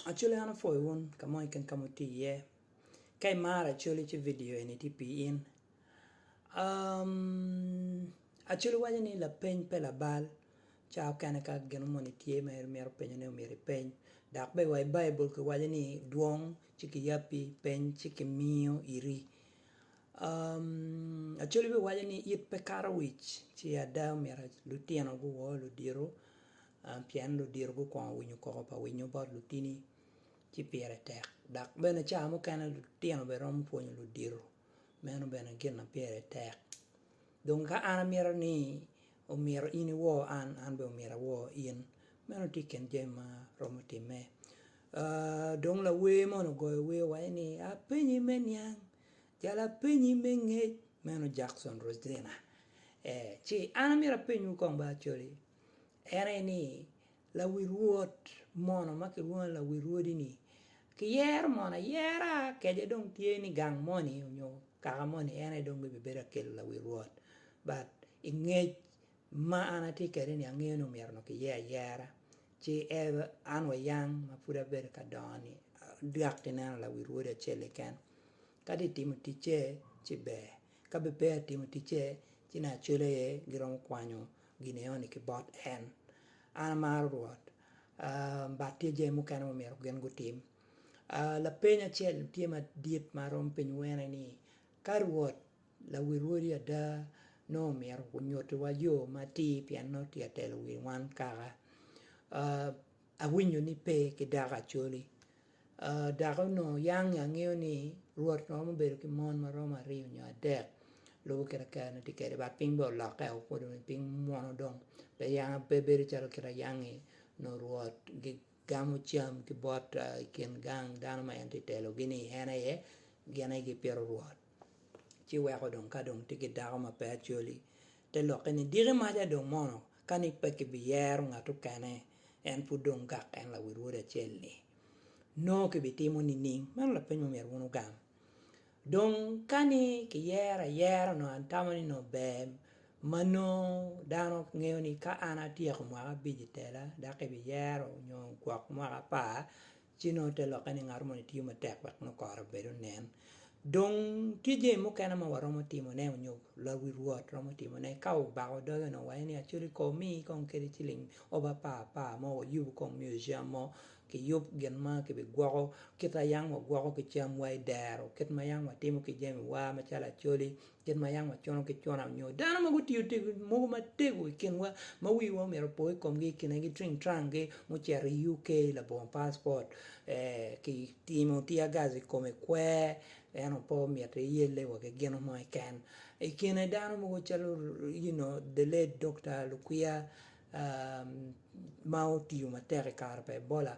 Acholi an apwoyo wun ka mo keken ka ma wutye iye ka imaro acholi ci vidio eni tye pi in Acholi waco ni lapeny pe labal ca okene ka gin mo moni tye ma in imito penyo ne myero ipeny dok bene wa i baibul ki waco ni dwong ci ki yabbi peny ci ki miyo iri Acholi bene waco ni it pe kato wic ci ada omyero lutino guwor ludito Pien ludito gukwongo winyo koko pa winyo bot lutini, ci pire tek. Dok bene cawa mukene lutino bene romo pwonyo ludito, meno bene gin ma pire tek. Dong ka an amito ni omyero in iwo an, an bene omyero awo in, meno tye i kin jami ma romo timme. Dong lawer moni ogoyo wer waco ni, Apenyi me niang, jalo apenyi me ngec, meno Jackson Rosina. Ee, ci an amito apenywu kong ba Acholi, En aye ni, lawi rwod mono ma kilwongo ni lawi rwodi ni kiyero mono ayera kece dong tye ni gang moni nyo kaka moni en aye dong bibi bedo akel lawi rwod but i ngec ma an atye kede ni angeyo ni omyero nongo kiyer ayera ci ever an wa yang ma pud abedo ka dongo ni dok kineno lawi rwodi acel keken Kadi itimo ticce, ci ber. Ka bene peya itimo ticce, ci ne acwele aye giromo kwanyo gin enoni ki bot en. An amaro Rwot, but tye jami mukene ma omyero gin gutim. Lapeny acel tye madit ma aromo penyo wene ni, Ka Rwot, Lawi Rwodi ada, nongo omyero onyutiwa yo matir pien nongo tye ka telo wi wan kaka? Awinyo ni pe ki dako Acholi. Ooh dako onongo yange angeyo ni Rwot romo bedo ki mon ma romo aryo nyo adek lubo kit ma kare ne tye kwede but piny bene olokke o kodo ni piny mwono dong pe yanga pe bedo calo kit ayange nongo Rwot gi gamo cam ki bot i kin gang dano ma en tye ka telogi ni en aye gin aye gipito Rwot. Ci weko dong ka dong tye ki dako ma pe Acholi, te lokke ni, Diki maca dong mono, ka ni pe kibiyero ngat okene, en pud dong gak en lawil wod acel-li, nongo kibitimo nining? Meno lapeny ma myero wun wugam. Dong ka ni kiyero ayera onongo an tamo ni onongo ber ma nongo dano ngeyo ni ka an atyeko mwaka abic i tela dok kibiyero nyo gwok mwaka apar, Ci nongo te lokke ni ngat moni tiyo matek wek nongo kore obed onen. Dong tye jami mukene ma waromo timone onyo lawi rwot romo timone. Ka obako doge onongo waye ni Acholi ko omi kong kede ciling ob apar apar mo wayub kong museum mo, ki yub gin ma ki bi gwoko kit ayang wa gwoko ki cam wa idero, kit ma yang watimo ki jami wa macalo Acholi. Kit ma yam wacono ki cona nyo dano ma gutiyo mogo matego i kinwa ma wiwa omyero opo i komgi i kinegi cwiny tranggi mucito i UK labongo passport ki timo tear gas i kome kwer eno pe omyero iyelle wa ki gino mo keken i kine dano mogo calo you know the late Dokta Lukwiya ma otiyo matek i kare pa Ebola.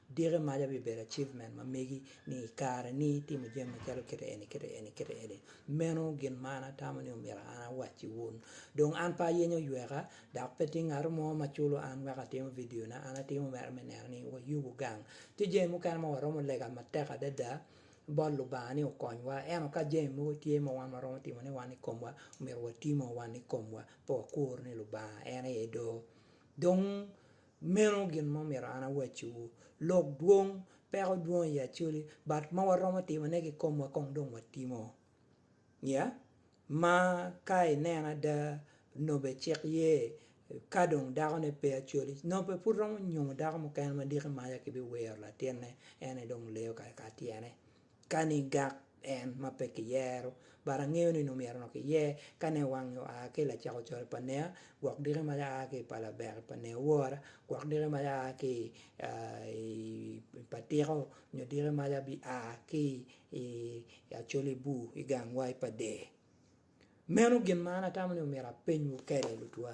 Dikke maca bibedo achievement ma megi ni i kare ni itimo jami macalo kite eni kite eni kite eni. Meno gin ma an atamo ni omyero an awacci wun. Dong an pe ayenyo oyweka, dok pe tye ngato mo ma culo an wek atimo vidio na an atimo mere me neno ni wayubu gang. Tye jami mukene ma waromo lega matek adada bot Lubanga ni okonywa, ento ka jami mogo tye ma wan waromo timo ne wan i komwa, omyero watimoo wan i komwa pe wakur ni Lubanga en aye doo. Dong Meno gin ma omyero an awacciwu, lok dwong peko dwong i Acholi, but ma waromo timo ne ki komwa kong dong watimo ya, ma ka i neno ada nobe cik ye ka dong dako ne pe Acholi nobe pud romo nyumo dako mukene ma diki maca ki bi wiro latinne ene dong leyo kare ka tyene. Kani gak en ma pe kiyero, but angeyo ni nongo myero nongo kiyer kane wange oa ki i lacako coc pa Nea, gwok diki mac aa ki i pala Bek pa Nea wora, gwok diki mac aa ki i pa Tiko nyo diki mac abi a ki i Acholi bur i gang wai pa Dee. Meno gin ma an atamo ni myero apenywu kede lutwa.